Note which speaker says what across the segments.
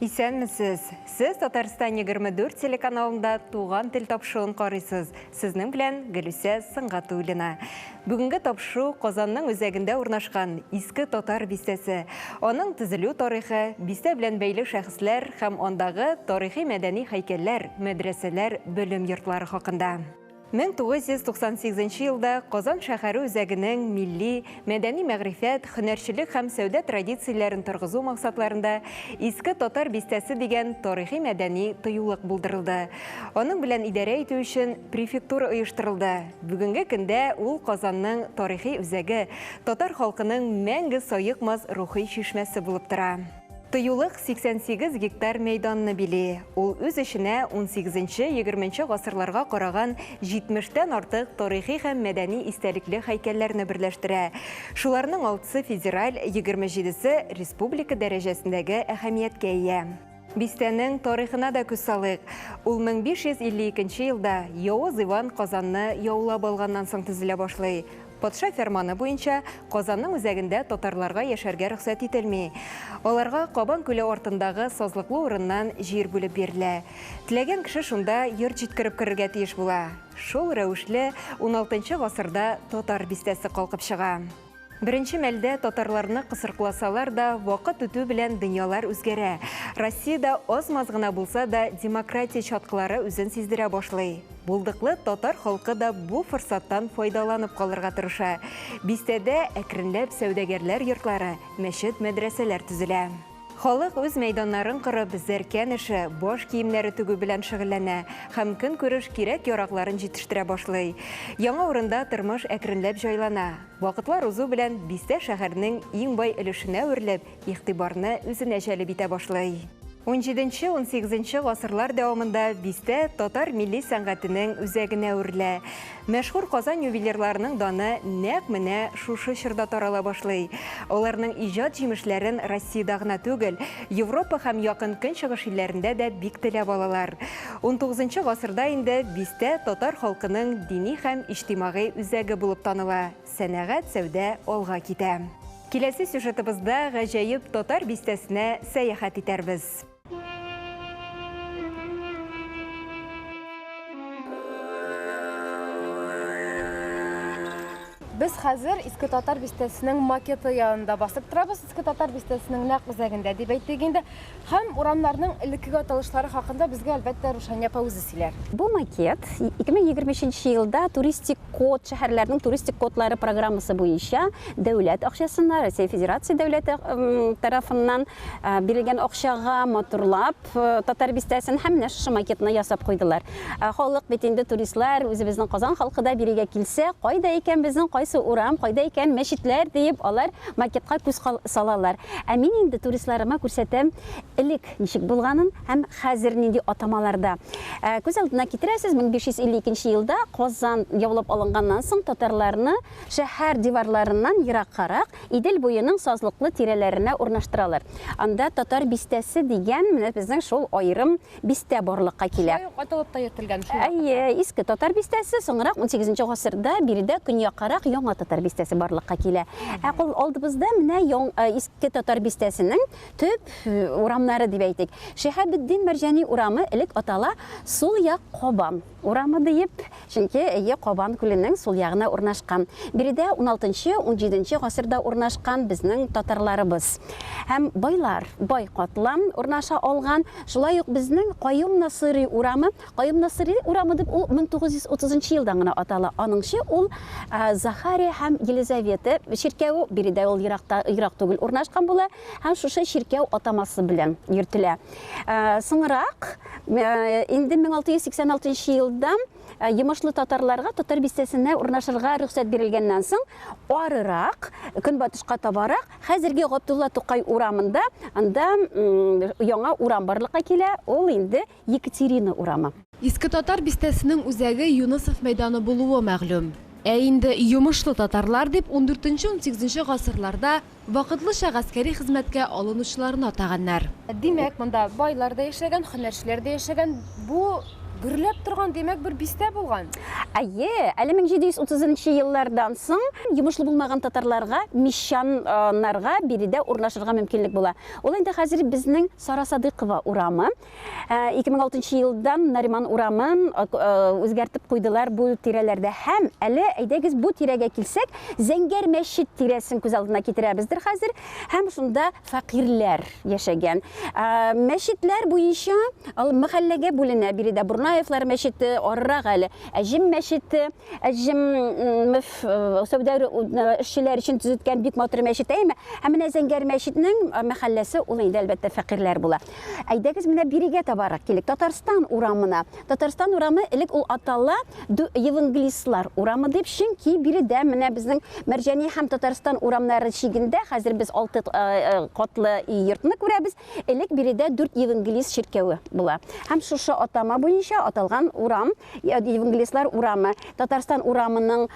Speaker 1: Исәнмесез! Сез Татарстан 24 телеканалында Туган тел тапшыуын карыйсыз. Сезнең белән Гөлүсә Сыңгатуллина. Бүгенге тапшыу Казанның үзәгендә урнашкан Иске Татар бистәсе, аның төзелү тарихы, бистә белән бәйле шәхесләр һәм андагы тарихи-мәдәни һәйкәлләр, мәдрәсәләр, белем йортлары хакында. 1998 елда Казан шәһәре үзәгенең милли, мәдәни-мәгърифәт, һөнәрчелек һәм сәүдә традицияләрен торгызу максатларында Иске Татар бистәсе дигән тарихи-мәдәни тыюлык булдырылды. Аның белән идарә итү өчен префектура оештырылды. Бүгенге көндә ул Казанның тарихи үзәге, татар халкының мәңге саекмас рухи чишмәсе булып тора. Тыюлык 88 гектар мәйданны били. Ул үз эченә 18-20 гасырларга караган 70 тән артык тарихи һәм мәдәни истәлекле һәйкәлләрне берләштерә. Шуларның алтысы федераль, 27 се республика дәрәҗәсендәге әһәмияткә ия. Бистәнең тарихына да күз салыйк. Ул 1552 елда Явыз Иван Казанны яулап алганнан соң төзелә башлый. Патша фәрманы буенча Казанның үзәгендә татарларга яшәргә рөхсәт ителми. Аларга Кабан күле артындагы сазлыклы урыннан җир бүлеп бирелә. Теләгән кеше шунда йорт җиткереп керергә тиеш була. Шул рәвешле уналтынчы гасырда Татар бистәсе калкып чыга. Беренче мәлдә татарларны кысыркласалар да, вакыт үтү белән дөньялар үзгәрә. Россиядә аз-маз гына булса да демократия чаткылары үзен сиздерә башлый. Булдыклы татар халкы да бу форсаттан файдаланып калырга тырыша. Бистәдә әкренләп сәүдәгәрләр йортлары, мәчет, мәдрәсәләр төзелә. Халык үз мәйданнарын корып, зәркән эше, баш киемнәре тегү белән шөгыльләнә һәм көнкүреш кирәк-яракларын җитештерә башлый. Яңа урында тормыш әкренләп җайлана. Вакытлар узу белән бистә шәһәрнең иң бай өлешенә әверелеп, игътибарны үзенә җәлеп итә башлый. Унҗиденче-унсигезенче гасырлар дәвамында бистә татар милли сәнгатенең үзәгенә әверелә. Мәшһүр Казан ювелирларының даны нәкъ менә шушы чорда тарала башлый. Аларның иҗат җимешләрен Россиядә гына түгел, Европа һәм Якын Көнчыгыш илләрендә дә бик теләп алалар. Унтугызынчы гасырда инде бистә татар халкының дини һәм иҗтимагый үзәге булып таныла. Сәнәгать, сәүдә алга китә. Киләсе сюжетыбызда гаҗәеп татар бистәсенә сәяхәт итәрбез.
Speaker 2: Без хәзер Иске Татар бистәсенең макеты янында басып торабыз. Иске Татар бистәсенең нәкъ үзәгендә дип әйтик инде. Һәм урамнарның элеккеге аталышлары хакында безгә, әлбәттә, Рушания апа үзе сөйләр. Бу макет
Speaker 3: 2023 елда Туристик код, шәһәрләрнең туристик кодлары программасы буенча дәүләт акчасына, Россия Федерация дәүләте тарафыннан бирелгән акчага матурлап Татар бистәсен һәм менә шушы макетны ясап куйдылар. Халык бит инде туристлар, үзебезнең Казан халкы да бирегә килсә, кайда икән безнең кайсы урам, кайда икән мәчетләр диеп алар макетка күз салалар. Ә мин инде туристларыма күрсәтәм элек ничек булганын һәм хәзер нинди атамаларда. Ә, күз алдына китерәсез, 1552 елда Казан яулап алынганнан соң татарларны шәһәр диварларыннан ераккарак, Идел буеның сазлыклы тирәләренә урнаштыралар. Анда Татар бистәсе дигән менә безнең шул аерым бистә барлыкка килә. Шулай ук аталып та йөртелгән
Speaker 2: шул вакытта. Әйе, Иске Татар
Speaker 3: бистәсе, соңрак унсигезенче гасырда биредә көньяккарак Яңа Татар бистәсе барлыкка килә. Ә кул алдыбызда менә э, Иске Татар бистәсенең төп э, урамнары дип әйтик. Шиһабетдин Мәрҗани урамы элек атала, сул як Кабан. Урамы диеп, чөнки өе Кабан күленең сул ягына урнашкан. Биредә уналтынчы, унҗиденче гасырда урнашкан безнең татарларыбыз һәм байлар, бай катлам урнаша алган. Шулай ук безнең Каюм Насыйри урамы, Каюм Насыйри урамы дип ул 1930 елдан гына атала, аныңчы ул Захария һәм Елизавета чиркәве, биредә ул еракта, ерак түгел урнашкан була һәм шушы чиркәү атамасы белән йөртелә. Соңрак, инде 1686 елда Йомышлы татарларга татар бистәсенә урнашырга рөхсәт бирелгәннән соң, арырак, көнбатышка табарак, хәзерге Габдулла Тукай урамында, анда яңа урам барлыкка килә, ул инде Екатерина
Speaker 2: урамы. Иске
Speaker 3: татар
Speaker 2: бистәсенең үзәге Юнысов мәйданы
Speaker 3: булуы
Speaker 2: мәгълүм. Ә инде Йомышлы татарлар дип, ундүртенче-унсигезенче гасырларда, Вакытлыча гаскәри хезмәткә алынучыларны атаганнар. Димәк, монда байлар да яшәгән, һөнәрчеләр дә яшәгән. Бу гөрләп торган, димәк, бер бистә булган. Әйе, әле
Speaker 3: 1730 нчы еллардан соң йомышлы булмаган татарларга, мещаннарга биредә урнашырга мөмкинлек була. Ул инде хәзер безнең Сара Садыйкова урамы. 2006 э, елдан Нариман урамын э, э, үзгәртеп куйдылар бу тирәләрдә. Һәм әле әйдәгез бу тирәгә килсәк, Зәңгәр мәчет тирәсен күз алдына китерәбездер хәзер. Һәм шунда фәкыйрьләр яшәгән. Мәчетләр буенча ал мәхәлләгә бүленә. Биредә Бурнаевлар мәчете, арырак әле Әҗим мәчете, Әҗим сәүдә эшчеләр өчен төзеткән бик матур мәчет әйме. Һәм менә Зәңгәр мәчетнең мәхәлләсе ул инде әлбәттә фәкыйрьләр була. Әйдәгез менә бирегә табарак килик. Татарстан урамына. Татарстан урамы элек ул атала Евангелистлар урамы дип, чөнки биредә менә безнең Мәрҗани һәм Татарстан урамнары чигендә хәзер без алты э, э, катлы йортны күрәбез. Элек биредә дүрт Евангелист чиркәве була. Һәм шушы атама буенча аталган урам Евангелистлар урамы, Татарстан урамының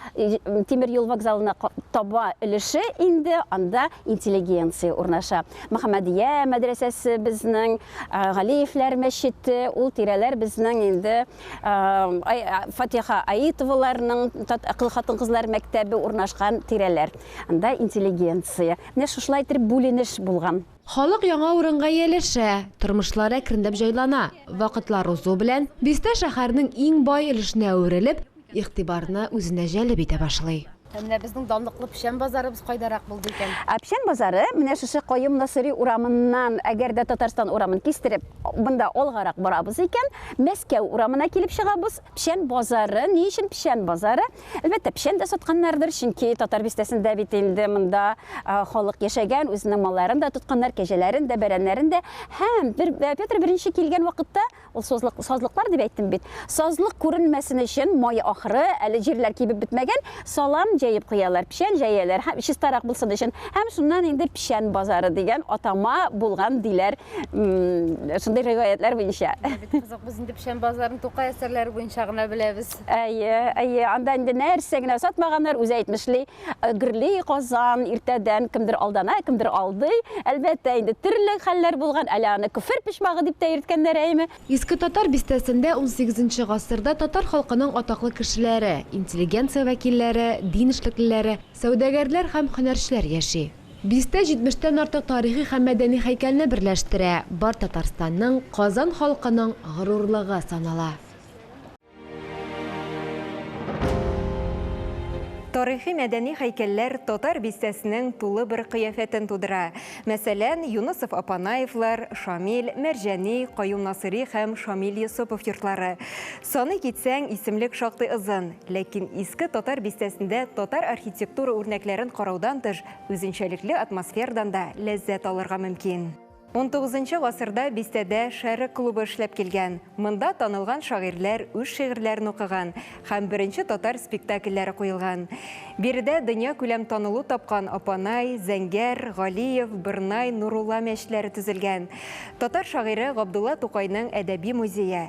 Speaker 3: тимер юл вокзалына таба өлеше инде анда интеллигенция урнаша. Мөхәммәдия мәдрәсәсе безнең, Галиевләр мәчете, ул тирәләр безнең инде Фатиха Аитоваларның хатын-кызлар мәктәбе урнашкан тирәләр. Анда интеллигенция. Менә шушылай итеп бүленеш булган. Халык яңа урынга
Speaker 2: ияләшә, тормышлары әкренләп җайлана. Вакытлар узу белән, бистә шәһәрнең иң бай өлешенә әверелеп, игътибарны үзенә җәлеп итә башлый. Ә менә безнең данлыклы печән базарыбыз кайдарак булды икән? Ә печән базары
Speaker 3: менә шушы Каюм Насыйри урамыннан, әгәр дә Татарстан урамын кистереп, монда алгарак барабыз икән, Мәскәү урамына килеп чыгабыз. Печән базары, ни өчен печән базары? Әлбәттә, печән дә сатканнардыр, чөнки Татар бистәсендә бит инде монда халык яшәгән, үзенең малларын да тотканнар, кәҗәләрен дә, бәрәннәрен дә. Һәм бер, Петр I килгән вакытта, ул созлык, сазлыклар дип әйттем бит, сазлык күренмәсен өчен, май ахыры, әле җирләр кибеп бетмәгән, салам җәеп куялар, печән җәяләр, һәм чистарак булсын өчен. Һәм шуннан инде печән базары дигән атама булган диләр, шундый риваятьләр буенча. Бик кызык, без инде
Speaker 2: печән базарын Тукай әсәрләре буенча гына беләбез. Әйе, әйе,
Speaker 3: анда инде нәрсә генә сатмаганнар, үзе әйтмешли, гөрли Казан, иртәдән кемдер алдана, кемдер алдый. Әлбәттә, инде төрле хәлләр булган, әле аны көфер почмагы дип тә йөрткәннәр, әйеме? Иске Татар
Speaker 2: бистәсендә унсигезенче гасырда татар халкының атаклы кешеләре, интеллигенция вәкилләре, дин эшлеклеләре, сәүдәгәрләр һәм һөнәрчеләр яши. Бистә җитмештән артык тарихи һәм мәдәни һәйкәлне берләштерә, бар Татарстанның, Казан халкының горурлыгы санала.
Speaker 1: Тарихи-мәдәни һәйкәлләр татар бистәсенең тулы бер кыяфәтен тудыра. Мәсәлән, Юнысов-Апанаевлар, Шамил, Мәрҗани, Каюм Насыйри һәм Шамил Йосыпов йортлары. Саный китсәң, исемлек шактый озын. Ләкин Иске Татар бистәсендә татар архитектура үрнәкләрен караудан тыш, үзенчәлекле атмосфердан да ләззәт алырга мөмкин. Унтугызынчы гасырда бистәдә Шәрык клубы эшләп килгән. Монда танылган шагыйрьләр үз шигырьләрен укыган һәм беренче татар спектакльләре куелган. Биредә дөньякүләм танылу тапкан Апанай, Зәңгәр, Галиев, Бырнай, Нурулла мәчетләре төзелгән. Татар шагыйре Габдулла Тукайның әдәби музее.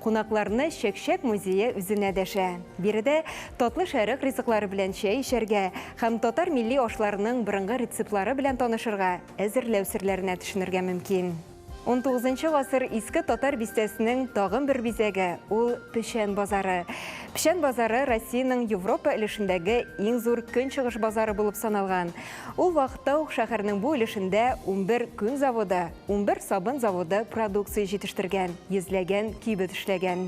Speaker 1: Кунакларны Чәкчәк музее үзенә дәшә. Биредә Татлы Шәрык ризыклары белән чәй эчәргә һәм татар милли ашларының борынгы рецептлары белән танышырга, әзерләү серләренә төшенергә мөмкин. Унтугызынчы гасыр Иске Татар бистәсенең тагын бер бизәге, ул Печән базары. Печән базары Россиянең Европа өлешендәге иң зур көнчыгыш базары булып саналган. Ул вакытта ук шәһәрнең бу өлешендә унбер күн заводы, Унбер сабын заводы продукция җитештергән, йөзләгән кибет эшләгән.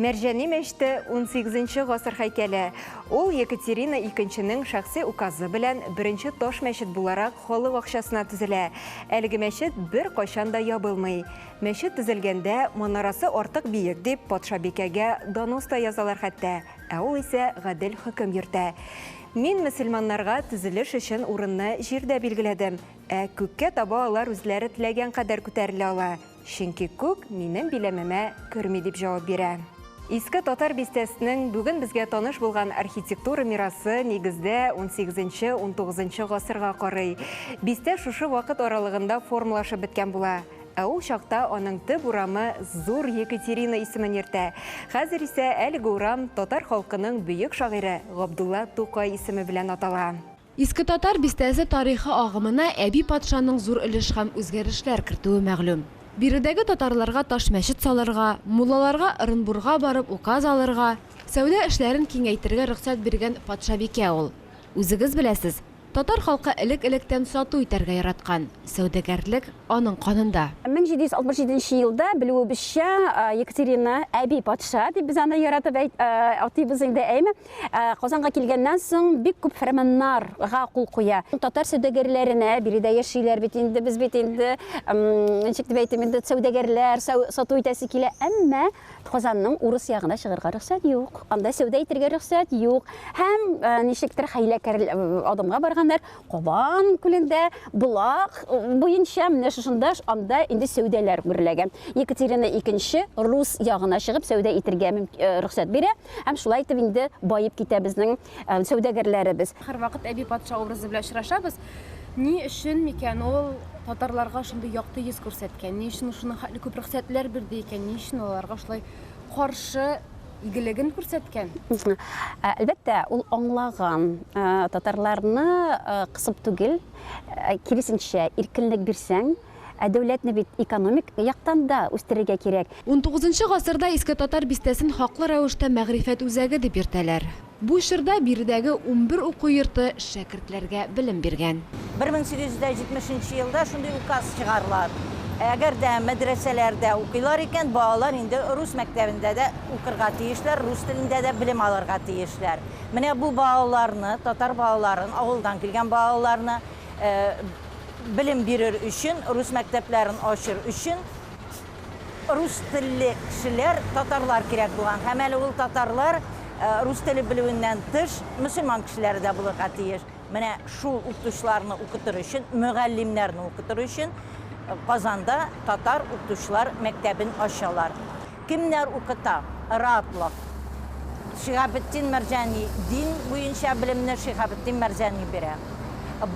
Speaker 1: Мәрҗани мәчете, унсигезенче гасыр һәйкәле. Ул Екатерина икенченең шәхси указы белән беренче таш мәчет буларак халык акчасына төзелә. Әлеге мәчет беркайчан да ябылмый. Мәчет төзелгәндә, манарасы артык биек дип, патшабикәгә донос та язалар хәтта, ә ул исә гадел хөкем йөртә. Мин мөселманнарга төзелеш өчен урынны җирдә билгеләдем. Ә күккә таба алар үзләре теләгән кадәр күтәрелә ала, чөнки күк минем биләмемә керми, дип җавап бирә. Иске Татар бистәсенең бүген безгә таныш булган архитектура мирасы нигездә унсигезенче-унтугызынчы гасырга карый. Бистә шушы вакыт аралыгында формалашып беткән була. Ә ул чакта аның төп урамы Зур Екатерина исемен йөртә. Хәзер исә әлеге урам татар халкының бөек шагыйре Габдулла Тукай исеме белән атала. Иске Татар
Speaker 2: бистәсе тарихы агымына Әби патшаның зур өлеш һәм үзгәрешләр кертүе мәгълүм. Биредәге татарларга таш мәчет салырга, муллаларга Ырынбурга барып указ алырга, сәүдә эшләрен киңәйтергә рөхсәт биргән патшабикә ул. Үзегез беләсез, татар халкы элек-электән сату итәргә яраткан, сәүдәгәрлек, аның канында. 1767 нче
Speaker 3: елда, белүебезчә, Екатерина, Әби патша дип без аны яратып әйт, атыйбыз инде, әйме, Ә, Казанга килгәннән соң бик күп фәрманнарга кул куя. Татар сәүдәгәрләренә биредә яшиләр бит инде, без бит инде, ничек дип әйтим, инде сәүдәгәрләр, сату итәсе килә, әмма Казанның урыс ягына чыгарга рөхсәт юк. Анда сәүдә итәргә рөхсәт юк. Һәм э, ничектер хәйләкәр э, адымга барганнар, Кабан күлендә болак буенча менә шушында анда инде сәүдәләр гөрләгән. Екатерина II рус ягына чыгып сәүдә итергә рөхсәт бирә һәм шулай итеп инде баеп китә безнең сәүдәгәрләребез. Һәрвакыт әби
Speaker 2: патша образы белән очрашабыз. Ни өчен микән ул татарларга шундый якты йөз күрсәткән? Ни өчен шуның хәтле күп рөхсәтләр бирде икән? Ни өчен аларга шулай каршы игелеген күрсәткән. Әлбәттә,
Speaker 3: ул аңлаган, татарларны кысып түгел, киресенчә, иркенлек бирсәң, ә дәүләтне бит экономик яктан да үстерергә кирәк. Унтугызынчы гасырда
Speaker 2: Иске Татар бистәсен хаклы рәвештә мәгърифәт үзәге дип йөртәләр. Бу чорда биредәге унбер уку йорты шәкертләргә белем биргән. Бер мең сигез йөз дә җитмеш
Speaker 4: нче елда шундый указ чыгарыла, әгәр дә мәдрәсәләрдә укыйлар икән, балалар инде рус мәктәбендә дә укырга тиешләр, рус телендә дә белем алырга тиешләр. Менә бу балаларны, татар балаларын, авылдан килгән балаларны белем бирер өчен, рус мәктәпләрен ачыр өчен, Рус телле кешеләр татарлар кирәк булган һәм әле ул татарлар рус теле белүеннән тыш мөселман кешеләре дә булырга тиеш. Менә шул укытучыларны укытыр өчен, мөгаллимнәрне укытыр өчен Казанда татар укытучылар мәктәбен ачалар. Кемнәр укыта? Ратлык. Шиһабетдин Мәрҗани дин буенча белемне Шиһабетдин Мәрҗани бирә.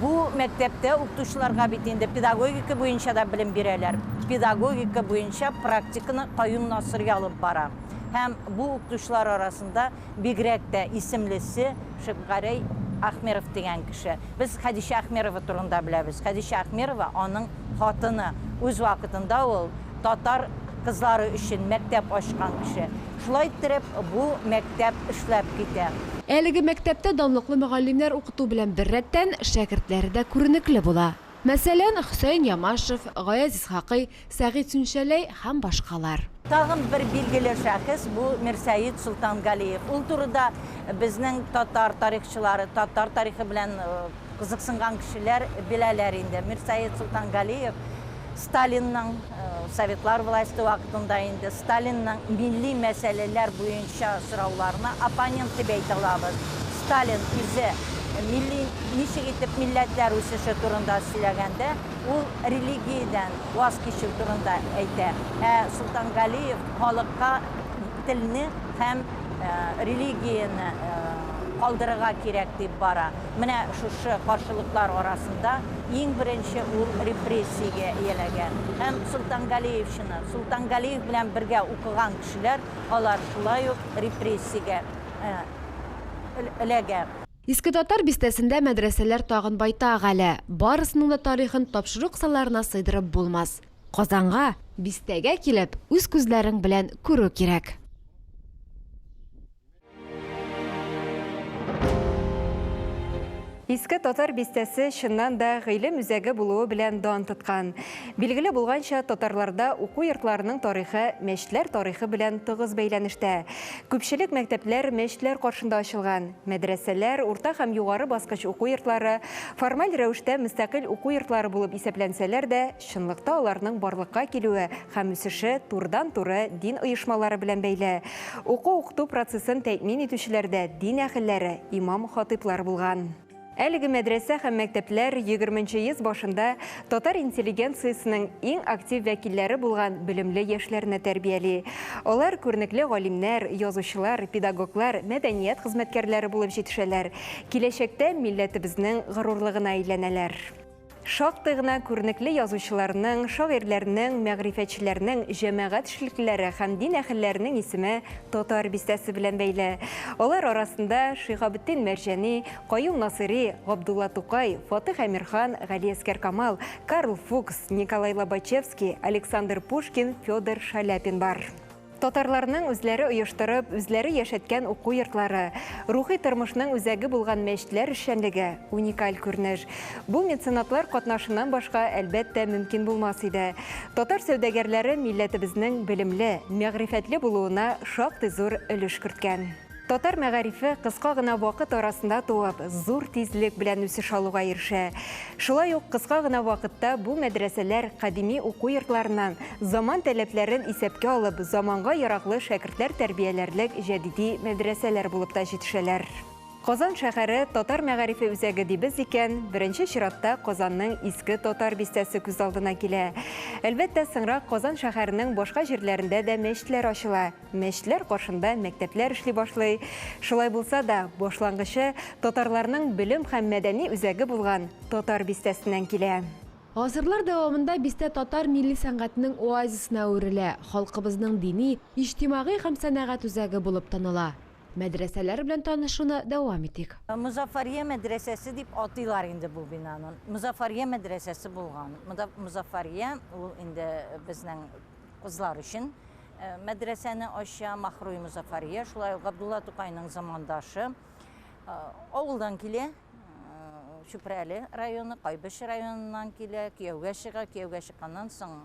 Speaker 4: Бу мәктәптә укытучыларга бит инде педагогика буенча да белем бирәләр. Педагогика буенча практиканы Каюм Насыйри алып бара. Һәм бу укытучылар арасында бигрәк тә исемлесе Шәпгәрәй Әхмеров дигән кеше. Без Хәдичә Әхмерова турында беләбез. Хәдичә Әхмерова аның хатыны. Үз вакытында ул Татар кызлары өчен мәктәп ачкан кеше. Шулай иттереп, бу мәктәп эшләп китә. Әлеге мәктәптә
Speaker 2: данлыклы мөгаллимнәр укыту белән беррәттән, шәкертләре дә күренекле була. Мәсәлән, Хөсәен Ямашев, Гаяз Исхакый, Сәгыйть Сүнчәләй һәм башкалар. Тагын бер
Speaker 4: билгеле шәхес, бу Мирсәет Солтангалиев. Ул турыда безнең татар тарихчылары, татар тарихы белән. Кызыксынган кешеләр беләләр инде, Мирсәет Солтангалиев Сталинның, Советлар власте вакытында инде Сталинның милли мәсьәләләр буенча сорауларына оппонент дип әйтә алабыз. Сталин үзе милли ничек итеп милләтләр үсеше турында сөйләгәндә, ул религиядән ваз кичү турында әйтә, ә Солтангалиев халыкка телне һәм религияне калдырырга кирәк дип бара. Менә шушы каршылыклар арасында иң беренче ул репрессиягә ияләгән. Һәм Солтангалиевчыны, Солтангалиев белән бергә укыган кешеләр, алар шулай ук репрессиягә эләгә. Иске Татар
Speaker 2: бистәсендә мәдрәсәләр тагын байтак әле, барысының да тарихын тапшыру кысаларына сыйдырып булмас. Казанга, бистәгә килеп, үз күзләрең белән күрү кирәк.
Speaker 1: Иске татар бистәсе чыннан да гыйлем үзәге булуы белән дан тоткан. Билгеле булганча, татарларда уку йортларының тарихы мәчетләр тарихы белән тыгыз бәйләнештә. Күпчелек мәктәпләр мәчетләр каршында ачылган. Мәдрәсәләр, урта һәм югары баскыч уку йортлары формаль рәвештә мөстәкыйль уку йортлары булып исәпләнсәләр дә, Чынлыкта аларның барлыкка килүе һәм үсеше турыдан-туры дин оешмалары белән бәйле. Уку-укыту процессын тәэмин итүчеләр дә дин әһелләре, имам-хатыйблар булган. Әлеге мәдрәсә һәм мәктәпләр егерме нче йөз башында татар интеллигенциясенең иң актив вәкилләре булган белемле яшьләрне тәрбияли. Алар күренекле галимнәр, язучылар, педагоглар, мәдәният хезмәткәрләре булып җитешәләр, киләчәктә милләтебезнең горурлыгына әйләнәләр. Шактый гына күренекле язучыларның, шагыйрьләрнең, мәгърифәтчеләрнең, җәмәгать эшлеклеләре һәм дин әһелләренең исеме Татар бистәсе белән бәйле. Алар арасында Шиһабетдин Мәрҗани, Каюм Насыйри, Габдулла Тукай, Фатих Әмирхан, Галиәскәр Камал, Карл Фукс, Николай Лобачевский, Александр Пушкин, Федор Шаляпин бар. Татарларның үзләре оештырып, үзләре яшәткән уку йортлары, рухи тормышның үзәге булган мәчетләр эшчәнлеге, уникаль күренеш. Бу меценатлар катнашыннан башка, әлбәттә, мөмкин булмас иде. Татар сәүдәгәрләре милләтебезнең белемле, мәгърифәтле булуына шактый зур өлеш керткән. Татар мәгарифе кыска гына вакыт арасында туып, зур тизлек белән үсеш алуга ирешә. Шулай ук кыска гына вакытта бу мәдрәсәләр кадими уку йортларыннан заман таләпләрен исәпкә алып, заманга яраклы шәкертләр тәрбияләрлек җәдиди мәдрәсәләр булып та җитешәләр. Казан шәһәре татар мәгарифе үзәге дибез икән, беренче чиратта Казанның Иске Татар бистәсе күз алдына килә. Әлбәттә, соңрак Казан шәһәренең башка җирләрендә дә мәчетләр ачыла. Мәчетләр каршында мәктәпләр эшли башлый. Шулай булса да, башлангычы татарларның белем һәм мәдәни үзәге булган Татар бистәсеннән килә. Гасырлар
Speaker 2: дәвамында бистә татар милли сәнгатенең оазисына әверелә, халкыбызның дини, иҗтимагый һәм сәнәгать үзәге булып таныла. Мәдрәсәләр белән танышуны дәвам итик. Мозаффария
Speaker 4: мәдрәсәсе дип атыйлар инде бу бинаны. Мозаффария мәдрәсәсе булган. Мозаффария, ул инде безнең кызлар өчен Мәдрәсәне ача Махруй Мозафария, шулай ук Габдулла Тукайның замандашы. Авылдан килә, Чүпрәле районы, Кайбыч районыннан килә, кияүгә чыга, кияүгә чыкканнан соң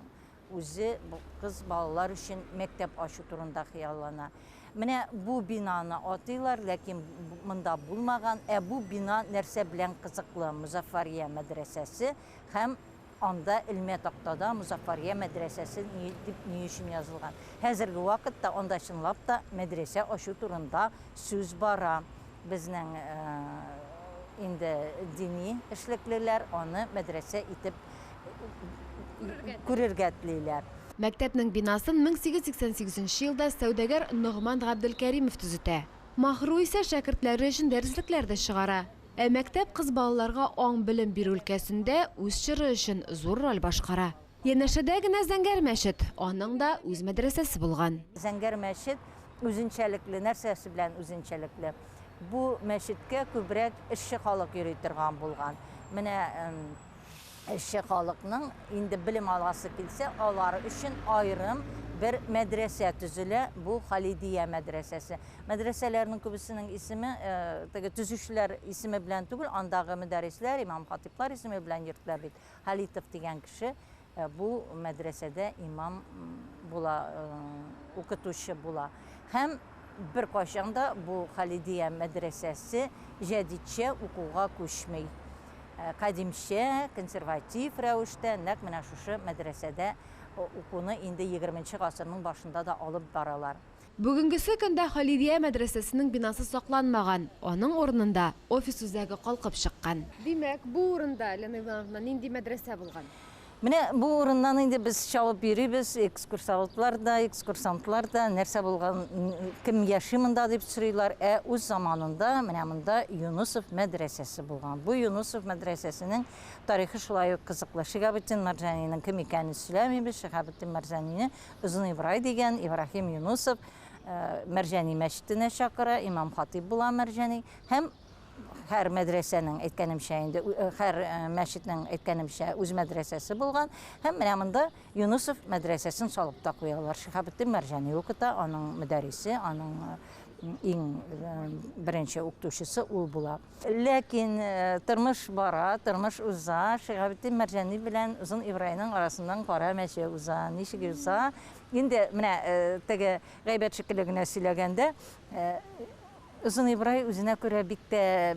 Speaker 4: үзе кыз балалар өчен мәктәп ачу турында хыяллана. Менә бу бинаны атыйлар, ләкин монда булмаган. Ә бу бина нәрсә белән кызыклы? Музафария мәдрәсәсе һәм Анда элмә тактада Мозаффария мәдрәсәсе дип ни өчен язылган? Хәзерге вакытта анда чынлап та мәдрәсә ачу турында сүз бара. Безнең инде дини эшлеклеләр аны мәдрәсә итеп күрергә телиләр. Мәктәпнең бинасын
Speaker 2: 1888 нче елда сәүдәгәр Ногман Габделкәримов төзетә. Маһру исә шәкертләре өчен дәреслекләр дә чыгара. Ә мәктәп кыз балаларга аң-белем бирү өлкәсендә үз чоры өчен зур роль башкара. Янәшәдә генә Зәңгәр мәчет, аның да үз мәдрәсәсе булган. Зәңгәр мәчет
Speaker 4: үзенчәлекле, нәрсәсе белән үзенчәлекле? Бу мәчеткә күбрәк эшче халык йөри торган булган. Менә Эшче халыкның инде белем аласы килсә, алар өчен аерым бер мәдрәсә төзелә, бу Халидия мәдрәсәсе. Мәдрәсәләрнең күбесенең исеме э, теге төзүчеләр исеме белән түгел, андагы мөдәрисләр, имам-хатиблар исеме белән йөртелә бит. Халитов дигән кеше Ә бу мәдрәсәдә имам була, укытучы була. Һәм беркайчан да бу Халидия мәдрәсәсе җәдитчә укуга күчми. Кадимчә, консерватив рәвештә нәкъ менә шушы мәдрәсәдә укуны инде егерменче гасырның башында да алып баралар. Бүгенгесе көндә
Speaker 2: Халидия мәдрәсәсенең бинасы сакланмаган, аның урынында офис үзәге калкып чыккан. Димәк, бу урында, Лена Ивановна, нинди мәдрәсә булган? Менә бу
Speaker 4: урыннан инде без чабып йөрибез, экскурсоводлар да, экскурсантлар да, нәрсә булган, кем яши монда дип сорыйлар. Ә үз заманында менә монда Юнысов мәдрәсәсе булган. Бу Юнысов мәдрәсәсенең тарихы шулай ук кызыклы. Шиһабетдин Мәрҗанинең кем икәнен сөйләмибез, Шиһабетдин Мәрҗанинең Озын Ибрай дигән Ибраһим Юнусов Мәрҗани мәчетенә чакыра, имам-хатыйб була Мәрҗани һәм һәр мәдрәсәнең әйткәнемчә инде һәр мәчетнең әйткәнемчә үз мәдрәсәсе булган һәм менә монда Юнусов мәдрәсәсен салып та куялар. Шихабетдин Мәрҗани укыта, аның мөдәрисе, аның иң беренче укытучысы ул була. Ләкин тормыш бара, тормыш уза. Шиһабетдин Мәрҗани белән Озын Ибраеның арасыннан кара мәче уза. Ничек уза? Инде менә теге гайбәт шикелле генә сөйләгәндә, Озын Ибрай үзенә күрә бик тә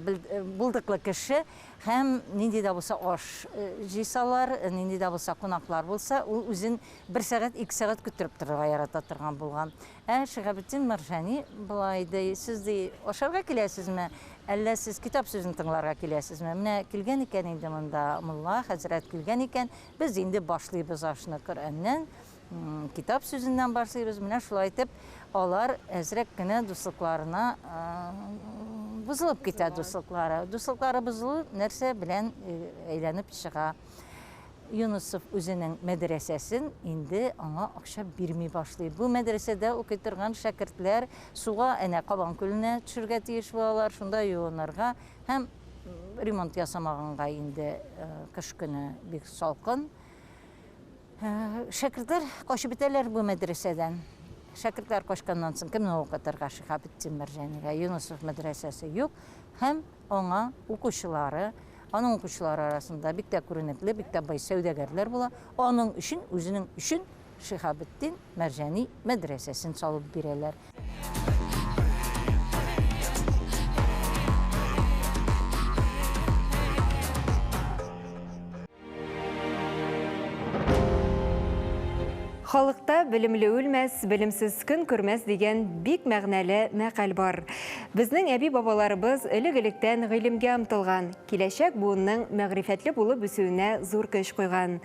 Speaker 4: булдыклы кеше һәм нинди дә булса аш җыйсалар, нинди дә булса кунаклар булса, ул үзен бер сәгать, ике сәгать көттереп торырга ярата торган булган. Ә Шиһабетдин Мәрҗани болай ди, Сез ди ашарга киләсезме, әллә сез китап сүзен тыңларга киләсезме? Менә килгән икән инде монда мулла хәзрәт килгән икән, без инде башлыйбыз ашны Коръәннән, китап сүзеннән башлыйбыз. Менә шулай итеп, алар әзрәк кенә дуслыкларына бозылып китә дуслыклары. Дуслыклары бозылу нәрсә белән әйләнеп чыга? Юнысов үзенең мәдрәсәсен инде аңа акча бирми башлый. Бу мәдрәсәдә укый торган шәкертләр суга, әнә Кабан күленә төшергә тиеш булалар, шунда юынырга һәм ремонт ясамаганга инде кыш көне бик салкын. Шәкертләр качып бетәләр бу мәдрәсәдән. Шәкертләр качканнан соң кемне укытырга Шиһабетдин Мәрҗанигә? Юнысов мәдрәсәсе юк һәм Аңа укучылары, аның укучылары арасында бик тә күренекле, бик тә бай сәүдәгәрләр була. Аның өчен, үзенең өчен Шиһабетдин Мәрҗани мәдрәсәсен салып бирәләр.
Speaker 1: Халыкта белемле үлмәс, белемсез көн күрмәс дигән бик мәгънәле мәкаль бар. Безнең әби-бабаларыбыз элек-электән гыйлемгә омтылган, киләчәк буынның мәгърифәтле булып үсүенә зур көч куйган.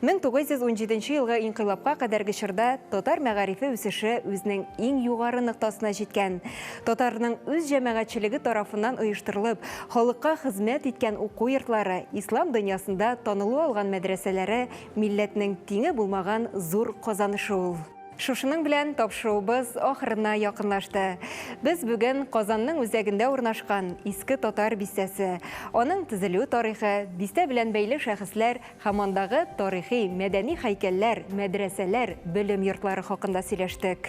Speaker 1: 1917 елгы инкыйлабка кадәрге чорда татар мәгарифе үсеше үзенең иң югары ноктасына җиткән. Татарның үз җәмәгатьчелеге тарафыннан оештырылып, халыкка хезмәт иткән уку йортлары, ислам дөньясында танылу алган мәдрәсәләре милләтнең тиңе булмаган зур казанышы ул. Шушының белән тапшыруыбыз ахырына якынлашты. Без бүген Казанның үзәгендә урнашкан Иске Татар бистәсе, аның төзелү тарихы, бистә белән бәйле шәхесләр һәм андагы тарихи-мәдәни һәйкәлләр, мәдрәсәләр, белем йортлары хакында сөйләштек.